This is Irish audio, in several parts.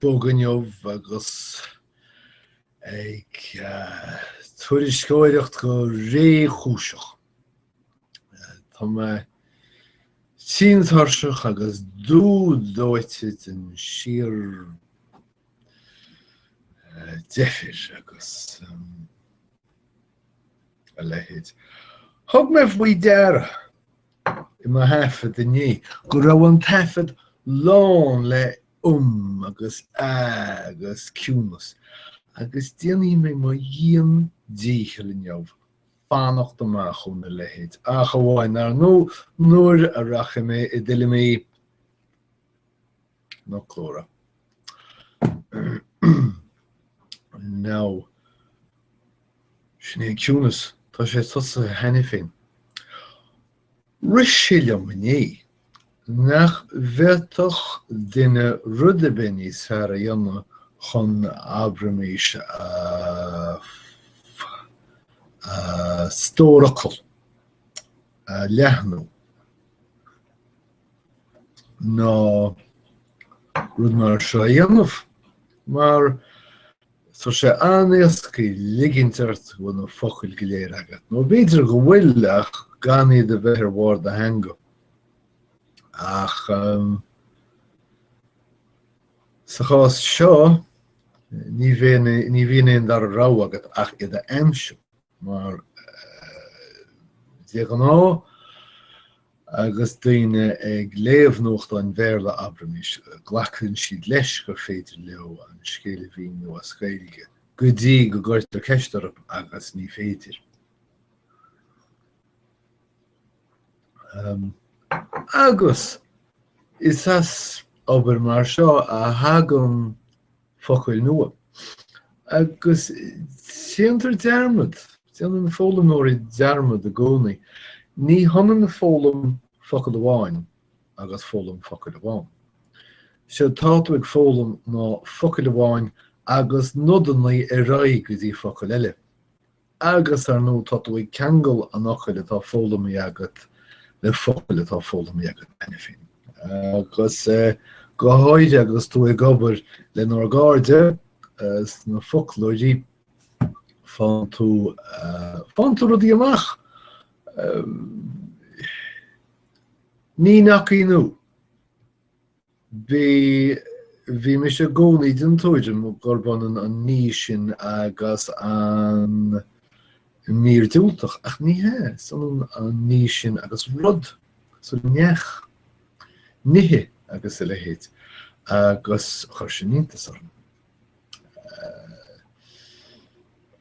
bog inniu agus ag tuairisceoireacht go réchúiseach. Tá mé tinn tuirseach agus dubh dóite den síordheifir agus a leithéid. Thug mé faoi deara. i mo thaifead inné, go raibh an taifead lán le 'um' agus 'a' agus ciúnas, agus déanfaidh mé mo dhian-dícheall inniu fanacht amach óna leithéid, ach amháin, ar ndóigh, nuair a rachaidh mé i dtuilleamaí. na clár. Now, sin é an ciúnas, tá sé tosaithe cheana féin. Rith sé liom inné nach bhféadfadh duine rud ar bith níos fearr a dhéanamh chun abraimis a stór focal a leathnú ná rud mar seo a dhéanamh mar tá sé an-éasca ligint ort go bhfuil na focail go léir agat, nó b'fhéidir go bhfuil ach gan iad a bheith ar bharr do theanga. Ach sa chás seo ní bhíonn aon dara rogha agat ach iad a aimsiú. Mar de ghnáth agus daoine ag léamh nuachtáin Bhéarla abraimis, glacann siad leis gur féidir leo an scéal a mhíniú as Gaeilge, go dtí go gcuirtear ceist orthu agus ní féidir. Agus is as obair mar seo a thagann focail nua. Agus déantar dearmad, déanann na foghlaimeoirí dearmad i gcónaí, ní hionann foghlaim focal amháin agus foghlaim focail amháin. Sé atá tú ag foghlaim ná focal amháin agus nodanna ar aghaidh go dtí focail eile. Agus, ar ndóigh, tá tú ag ceangal an fhocail atá foghlamtha agat le focail atá foghlamtha agat cheana féin. Agus go háirithe agus tú ag obair lenár gcairde sna foclóirí faigheann tú faigheann tú rudaí amach. Ní nach ionadh. Bhí, bhí mise i gcónaí den tuairim gurb ionann an ní sin agus an mír diúltach, ach ní hé, is ionann an ní sin agus rud, so neach, nithe agus a leithéid, agus chuir sin iontas orm.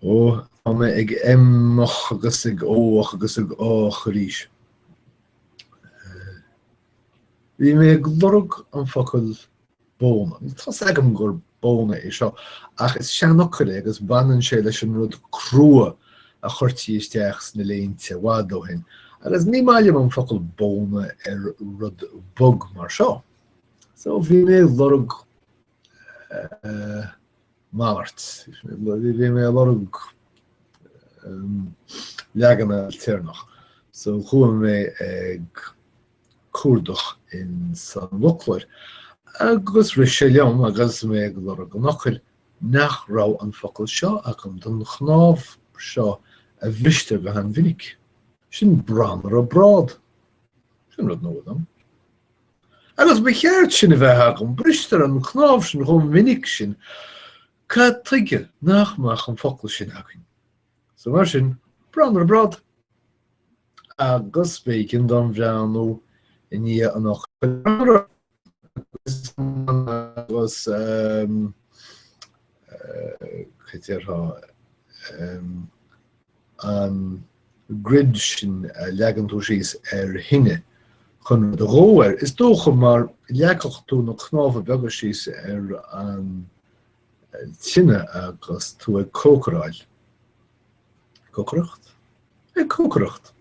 Ó, tá mé ag hm-áil agus ag ó-ach agus ag á-ach arís. Bhí mé ag lorg an focal bóna. Tá's agam gur bóna é seo, ach is seanfhocal é agus baineann sé leis an rud crua a chuirtí isteach sna léinte i bhfad ó shin, agus ní maith liom an focal bóna ar rud bog mar seo. So bhí mé ag lorg Malairt. Bhí mé a lorg leaganna téarmach. So chuaigh mé ag cuardach in san bhfoclóir agus rith sé liom agus mé ag lorg an fhocail nach raibh an focal seo agam don chnámh seo a bhristear go han-mhinic. Sin branra brád. Sin rud nua dom. Agus ba cheart sin a bheith agam, bristear an cnámh sin chomh minic sin, cad chuige nach mbeadh an focal sin againn? So mar sin, branra brád. Agus b'éigean dom breathnú i ndiaidh an fhocail branra. Agus cad a déarfá? an ghreille sin a leagann tú síos ar thine chun rud a dhó air. Is dócha mar leagfadh tú na cnámha beaga síos ar an tine agus tú ag cócaráil. Cócaireacht? Ag cócaireacht.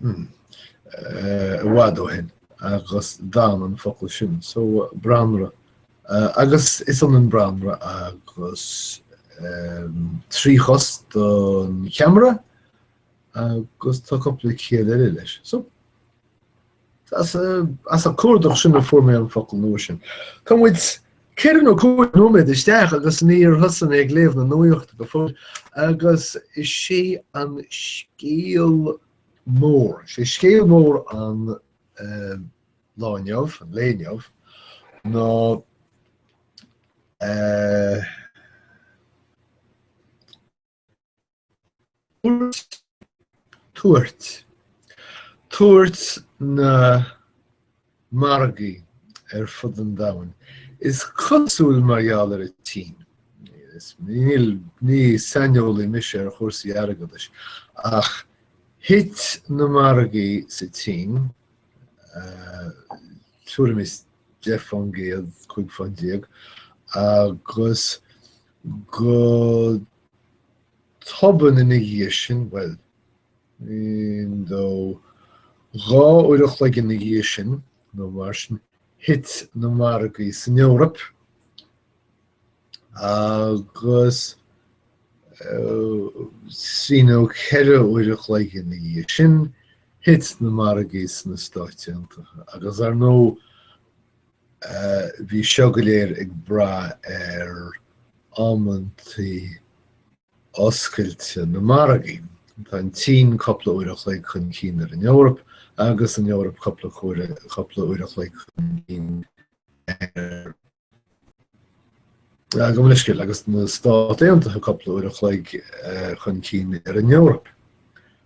i bhfad ó shin agus d'fhan an focal sin so branra agus is ionann branra agus tríchosach don cheamara agus tá cupla ciall eile leis so As an cuardach sin a fuair mé an focal nua sin. Tá muid ceithre nó cúig nóiméad isteach agus níor thosaigh mé ag léamh na nuachta go fóill agus is é an scéal mór, is é scéal mór an lá inniu, an lae inniu, ná Tuairt, tuairt na margaí ar fud an domhain. Is cosúil mar gheall ar an tSín, is níl, ní saineolaí mise ar chúrsaí airgeadais, ach thit na margaí sa tSín, tuairim is 10%, 15%, agus. Go tobann ina dhiaidh sin, bhuel, aon nó dhá uair a chloig ina dhiaidh sin, nó mar sin, thit na margaí san Eoraip agus trí nó ceithre uair a chloig ina dhiaidh sin, thit na margaí sna Stáit Aontaithe. Agus ar ndóigh, Bhí seo go léir ag brath ar amantaí oscailte na margaí. Tá an tSín cúpla uair a chloig chun cinn ar an Eoraip agus an Eoraip cúpla uair a chloig chun cinn ar gabh mo leithscéal, agus na Stáit Aontaithe cúpla uair a chloig chun cinn ar an Eoraip.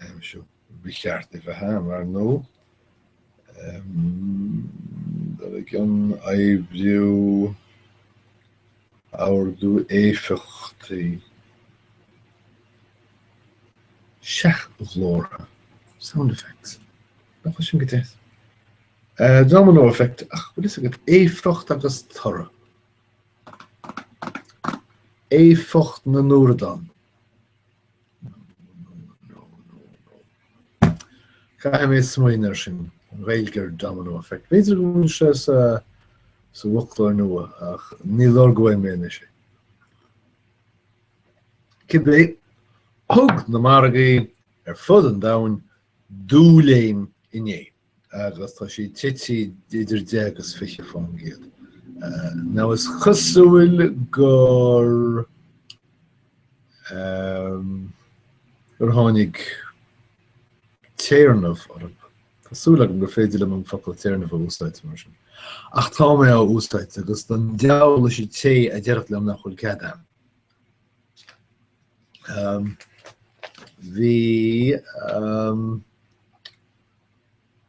aimsiú. Ba cheart é bheith ann, ar ndó? Dul i gcion, oibriú, ardú éifeachtaí, seachghlórtha, sound effects, nach bhfuil sin go deas, domino effect, ach bhfuil fhios agat, éifeacht agus toradh, éifeacht na ndúradán. Caithfidh mé smaoineamh air sin. An Ghaeilge ar Domino Effect. B'fhéidir go bhfuil sé sa bhfoclóir nua ach ní lorgóidh mé anois é. Cibé, thug na margaí ar fud an domhain dúléim inné. agus tá siad titithe idir 10 agus 20%. Now is cosúil gur gur tháinig téarnamh orthu. Tá súil agam gur féidir liom an focal téarnamh a úsáid mar sin. Ach tá mé á úsáid agus don diabhal leis an té a déarfadh liom nach bhfuil cead agam. Bhí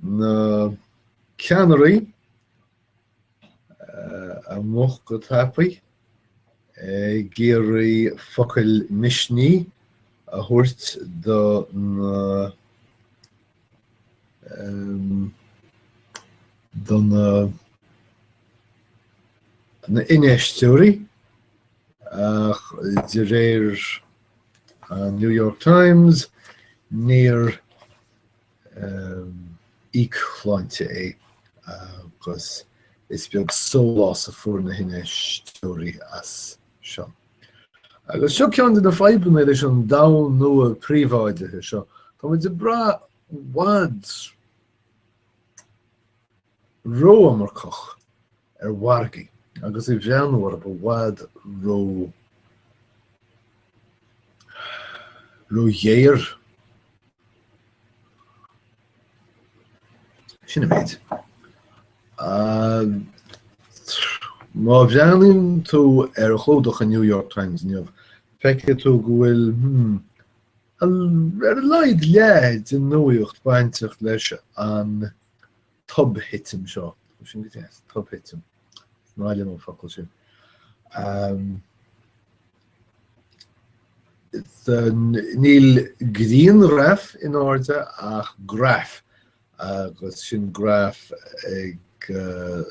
na ceannairí amach go tapaidh ag iarraidh focail misnigh a thabhairt do na do na do na hinfheisteoirí ach de réir an New York Times níor íocshláinte é agus is beag sólás a fuair na hinfheisteoirí as seo. Agus seo ceann de na fadhbanna leis an domhan nua príobháidithe seo, Tá muid ag brath i bhfad ró-iomarcach ar mhargaí agus i mo bharúil i bhfad ró-ghéar. Sin an méid. Má bhreathnaíonn tú ar chlúdach an New York Times inniu, feicfidh tú go bhfuil, ar a laghad, leath den nuaíocht bainteach leis an tobthitim seo. Is sin go dtí, tobthitim. Is maith liom an focal sin. Níl grianghraf in airde ach graf, agus sin graf ag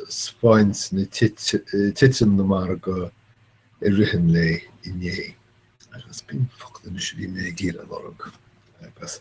spáint na titim na margaí i rith an lae inné. Agus b'in focal anois a bhí mé ag iarraidh lorg. Agus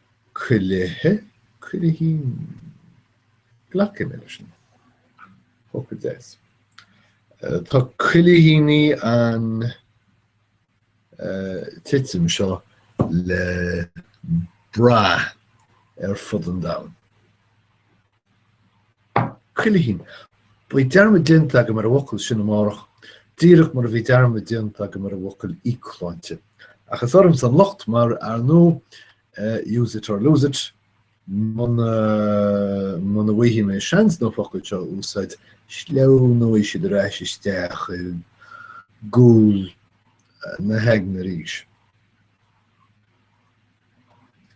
Cuilithe, cuilithín? Glacfaidh mé leis sin. Hope it is. Uh, tá cuilithíní an uh, titim seo le brath ar fud an domhain. Cuilithín. Beidh dearmad déanta agam ar an bhfocal sin amárach, díreach mar a bhí dearmad déanta agam ar an bhfocal íocshláinte. Ach is ormsa an locht, mar ar ndóigh, use it or lose it, muna muna bhfaighe mé seans na focail seo a úsáid, sleamhnóidh siad ar ais isteach i gcúl na haigne arís.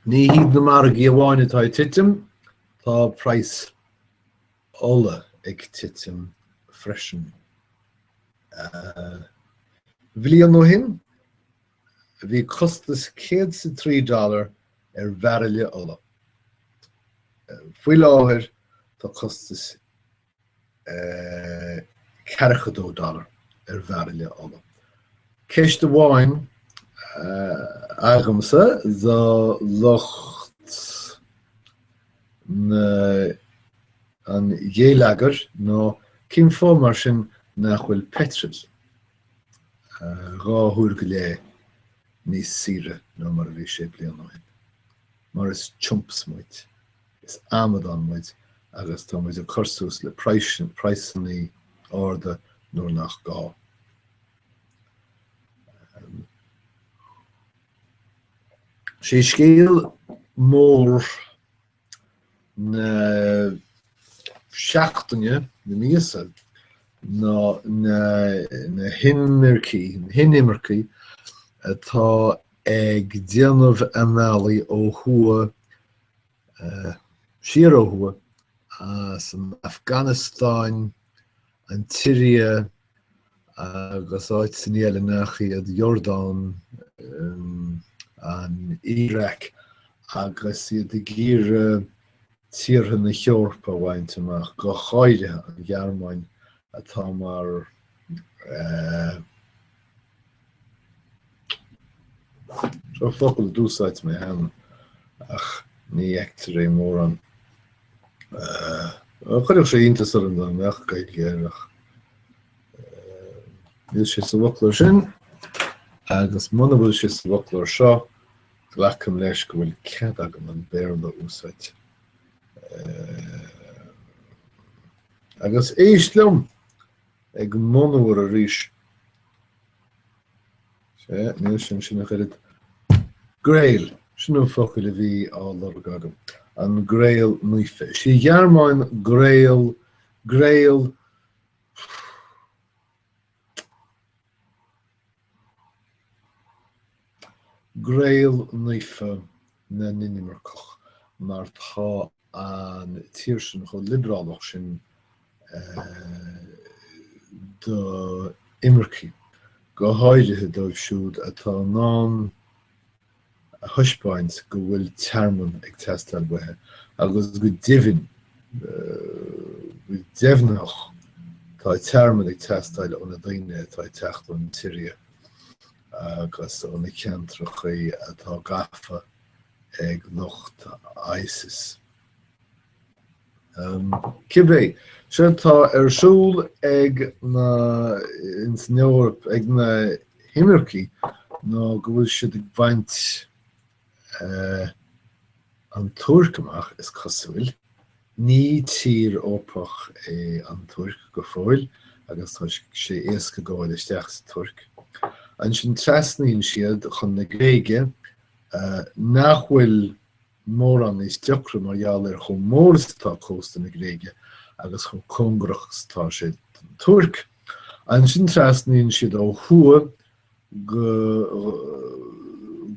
Ní hiad na margaí amháin atá ag titim. Tá praghas ola ag titim freisin. Bliain ó shin, bhí costas céad is a trí dollar ar bhairille ola. Faoi láthair, tá costas $42 ar bhairille ola. Ceist amháin agamsa do lucht an ghéilleagair nó cén fáth mar sin nach bhfuil peitreal dhá huair go leith níos saoire ná mar a bhí sé bliain ó shin? Mar is triompais muid. Is amadáin muid agus tá muid ag cur suas le praghsanna arda nuair nach gá. Sé scéal mór na seachtaine, na míosa, ná na hinimircigh atá ag déanamh a mbealaigh ó thuaidh siar ó thuaidh as an Afganastáin, an tSiria agus áiteanna eile nach iad, Iordáin, an Iaráic, agus iad ag iarraidh tíortha na hEorpa a bhaint amach, go háirithe an Ghearmáin atá mar Seo focal a d'úsáid mé cheana ach ní fheictear é mórán. Chuirfeadh sé iontas orm dá mbeadh Gaeilge air ach níl sé sa bhfoclóir sin agus muna bhfuil sé sa bhfoclóir seo glacaim leis go bhfuil cead agam an Béarla a úsáid. Agus éist liom! ag monuar arís. Sé, ní shin, sin a chuid. Gréil, sin an focal a bhí á lorg agam. An gréil naofa. Sí Gearmáin gréil gréil Gréil Naofa na nInimirceach mar tá an tír sin chomh liobrálach sin do imircigh, go háirithe dóibh siúd atá in ann a thaispeáint go bhfuil tearmann ag teastáil uathu agus go deimhin, go deimhneach, tá tearmann ag teastáil ó na daoine atá ag teacht ón tSiria agus ó na ceantracha atá gafa ag lucht ISIS. Cibé, 'sé atá ar siúl ag na, ins an Eoraip, ag na himircigh ná go bhfuil siad ag baint an Tuirc amach, is cosúil. Ní tír Eorpach é an Tuirc go fóill agus tá sé éasca gabháil isteach sa Tuirc. Ansin trasnaíonn siad chun na Gréige, nach bhfuil mórán níos deacra mar gheall ar chomh mór is atá cósta na Gréige agus chomh cóngarach is atá sé don Tuirc. Ansin trasnaíonn siad ó thuaidh go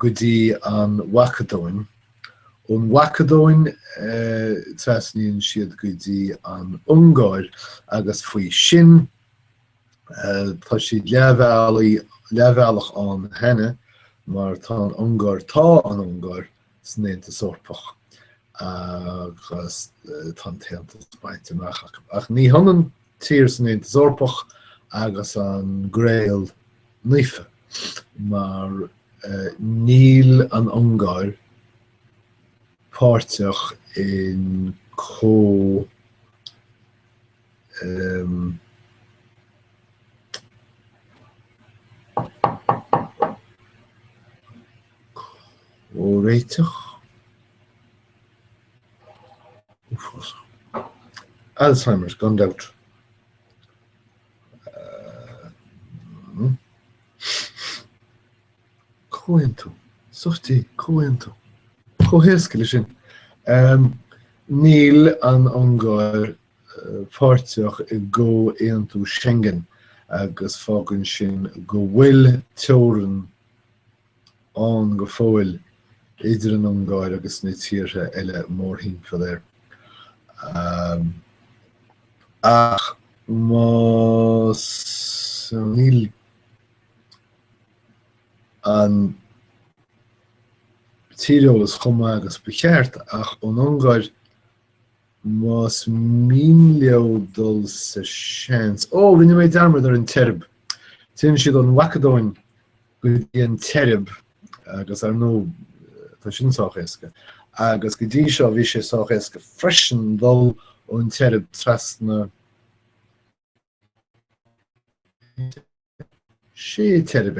dtí an Mhacadóin. Ón Mhacadóin trasnaíonn siad go dtí an Ungáir agus faoi sin tá siad leathbhealaí, leathbhealach ann cheana mar tá an Ungáir, tá an Ungáir san Aontas Eorpach agus tá an tAontas baint amach acu. Ach ní hionann tír san Aontas Eorpach agus an gréil naofa mar níl an Ungáir páirteach in có um, Comhréiteach uafásach. Alzheimer's gan dabht. Comhaontú. So that's it, comhaontú. Chomh héasca le sin. Níl an Ungáir páirteach i gcomhaontú Schengen agus fágann sin go bhfuil teorainn ann go fóill idir an Ungáir agus na tíortha eile mórthimpeall air. Ach más níl an tíreolas chomh maith agus ba cheart, ach ón Ungáir Más mian leo dul sa seans. Ó, rinne mé dearmad ar an tSeirb. Téann siad ón Mhacadóin go dtí an tSeirb agus, ar ndóigh, tá sin sách éasca. Agus go dtí seo bhí sé sách éasca freisin dul ón tSeirb trasna. tSeirb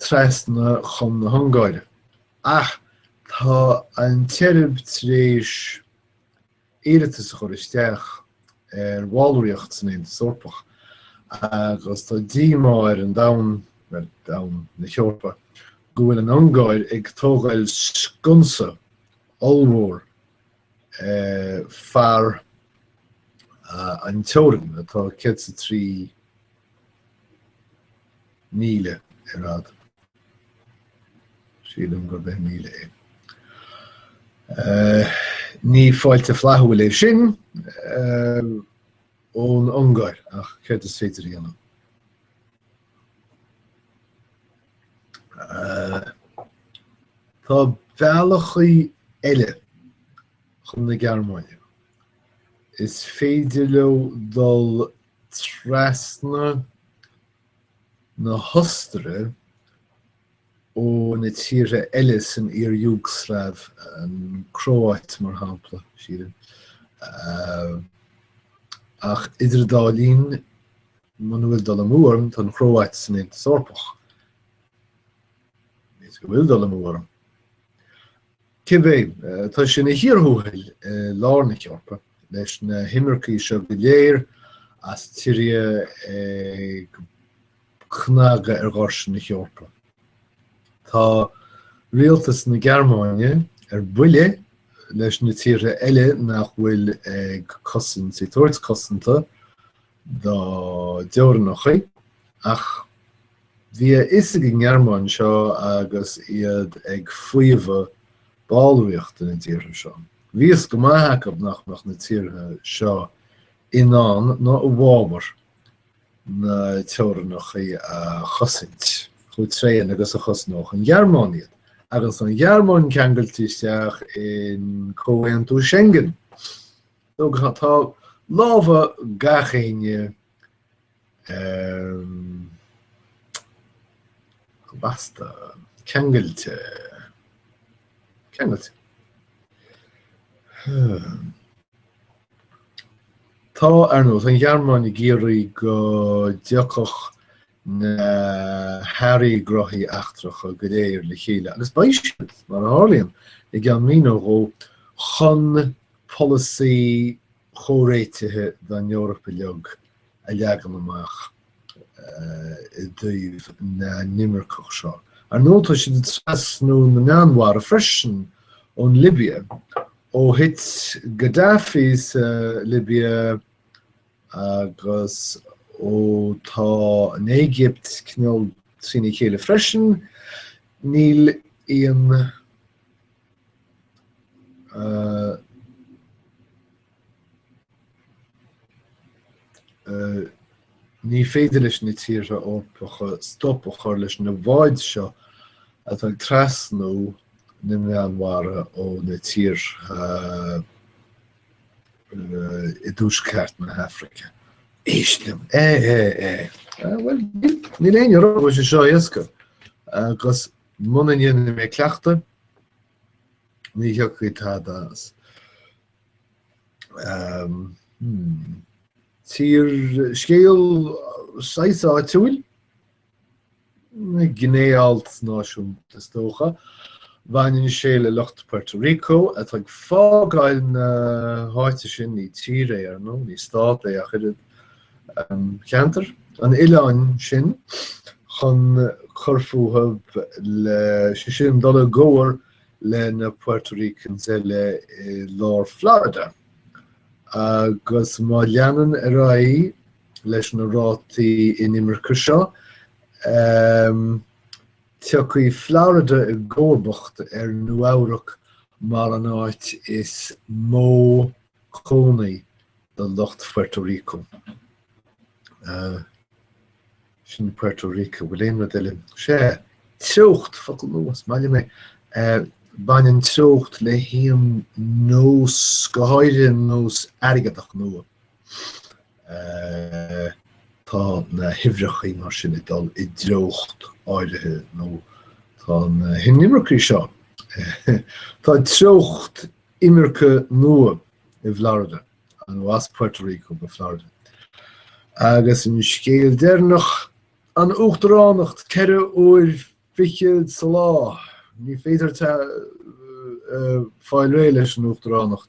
trasna chun na hUngáire, ach tá an tSeirb tar éis iarratas a chur isteach ar bhallraíocht san Aontas Eorpach agus tá díomá ar an domhan, ar domhan na hEorpa, go bhfuil an Ungáir ag tógáil sconsa ollmhór. fearann teorann atá céad is a trí míle ar fhad. Sílim gur bheith míle é. Eh, ní fáilte flathúil é sin eh, ón Ungáir ach céard is féidir a dhéanamh. Tá bealachaí eile chun na Gearmáine. Is féidir leo dul trasna na hOstaire ó na tíortha eile san iar-Iúgslaiv, an Cróáit mar shampla, sílim. Ach idir an dá linn, Muna bhfuil dul amú orm tá an Chróáit san Aontas Eorpach, is dócha go bhfuil dul amú orm, cibé, tá sé ina chíor thuathail i lár na hEorpa, leis na himircigh seo go léir as Siria ag cnagadh ar dhoirse na hEorpa. Tá rialtas na Gearmáine ar buile leis na tíortha eile nach bhfuil ag cosaint, ag tabhairt cosanta dá dteorainneacha, ach bhí a fhios ag an nGearmáin seo agus iad ag faomhadh ballraíochta na dtíortha seo. Bhí fhios go maith acu nach mbeadh na tíortha seo in ann nó i bhfabhar na teorainneacha a chosaint chomh tréan agus a chosnódh an Ghearmáin iad. Agus an Ghearmáin ceangailte isteach i gComhaontú Schengen, Ar ndóigh tá lámha gach éinne lasta, ceangailte, ceangailte. Tá, ar ndóigh, tá an Ghearmáin ag iarraidh go dtiocfadh na hairí gnothaí eachtracha go léir le chéile agus beidh siad, mar a tharlaíonn, i gceann mí nó dhó, chun polasaí comhréitithe don Eoraip uilig a leagan amach i dtaobh na n-inimirceach seo. Ar ndóigh, tá siad ag trasnú na Meánmhara freisin ón Libia. Ó thit Gaddafi sa Libia Agus ó tá an Éigipt cineál trína chéile freisin, níl aon Ní féidir leis na tíortha Eorpacha stop a chur leis na bháid seo atá ag trasnú na Meánmhara ó na tíortha i dtuaisceart na hAfraice. Éist liom. É, é, é. Bhfuil níl aon rud, níl sé seo éasca agus muna ndéanfaidh mé cleachtadh ní thiocfaidh tada as. Fíorscéal saghas áitiúil gné-alt náisiúnta, is dócha. Bhaineann sé le lucht Puerto Rico, atá ag fágáil na háite sin, ní tír é, ar ndóigh, ní stát é ach oiread, cheantar an oileáin sin, chun cur fúthu le, sé sin, dul i gcomhar leis na Puerto Ricans eile i lár Florida. Agus má leanann ar aghaidh, leis na rátaí inimirce seo, tiocfaidh Florida i gcomharbacht ar Nua-Eabhrac mar an áit is mó cónaí do lucht Puerto Rico. Sin Puerto Rico. Bhfuil aon rud eile? Sea, treocht, focal nua, is maith liom é. Baineann treocht le haon nós, go háirithe nós airgeadach nua. Tá na huimhreacha mar sin ag dul i dtreocht áirithe nó tá na hinimircigh seo Tá treocht imirce nua i bhFlorida nó as Puerto Rico go Florida agus an scéal deireanach, an uachtaránacht ceithre uaire fichead sa lá, ní féidir fáil réidh leis an uachtaránacht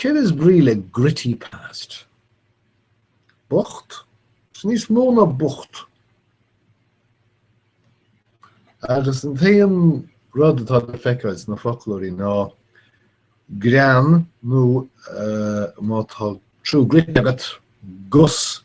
Céard is brí le gritty past? Bocht? Is níos mó ná bocht. Agus an t-aon rud atá le feiceáil sna foclóirí ná grean nó má tá trú grit agat gus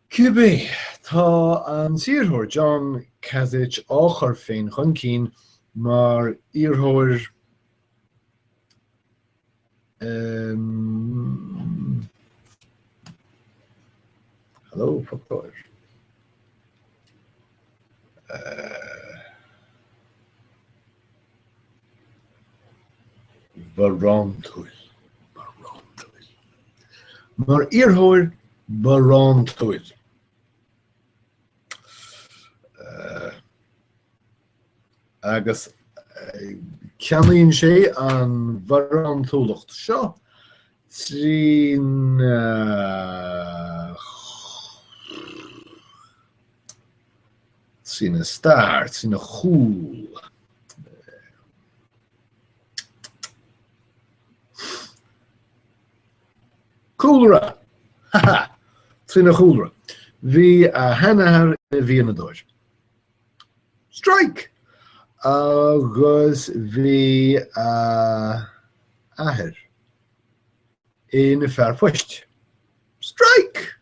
Cibé, tá an t-iarrthóir John Kasich á chur féin chun cinn mar iarrthóir an. barántúil, barántúil. Mar iarrthóir barántúil, agus ceannaíonn sé an bharántúlacht seo trína Trína start, trína chúl. Cúlra! Ha ha! Trína chúlra. Bhí a sheanathair ina mhianadóir. Strike! Agus bhí a athair ina fhear poist. Strike!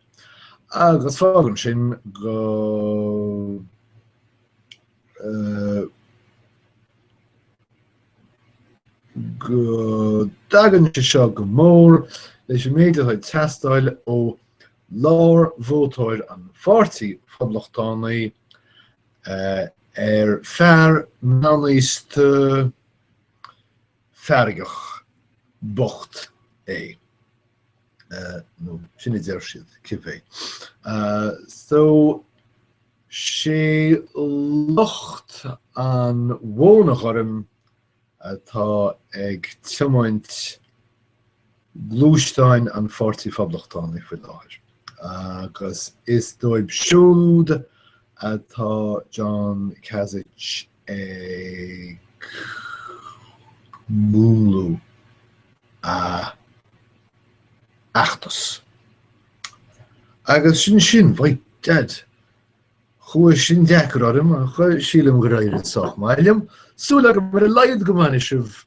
Agus fágann sin go go dtagann sé seo go mór leis an méid atá ag teastáil ó lár vótóir an Pháirtí Phoblachtánaigh ar fear meánaosta feargach bocht é. nó sin a deir siad cibé. So 'sé lucht an bhóna ghoirm atá ag tiomáint gluaisteán an Pháirtí Phoblachtánaigh faoi láthair agus is dóibh siúd atá John Kasich ag múnlú a fheachtais. Agus sin sin, by dad. Chuaigh sin deacair orm, ach sílim gur éirigh sách maith liom. Súil agam ar a laghad go mbainfidh sibh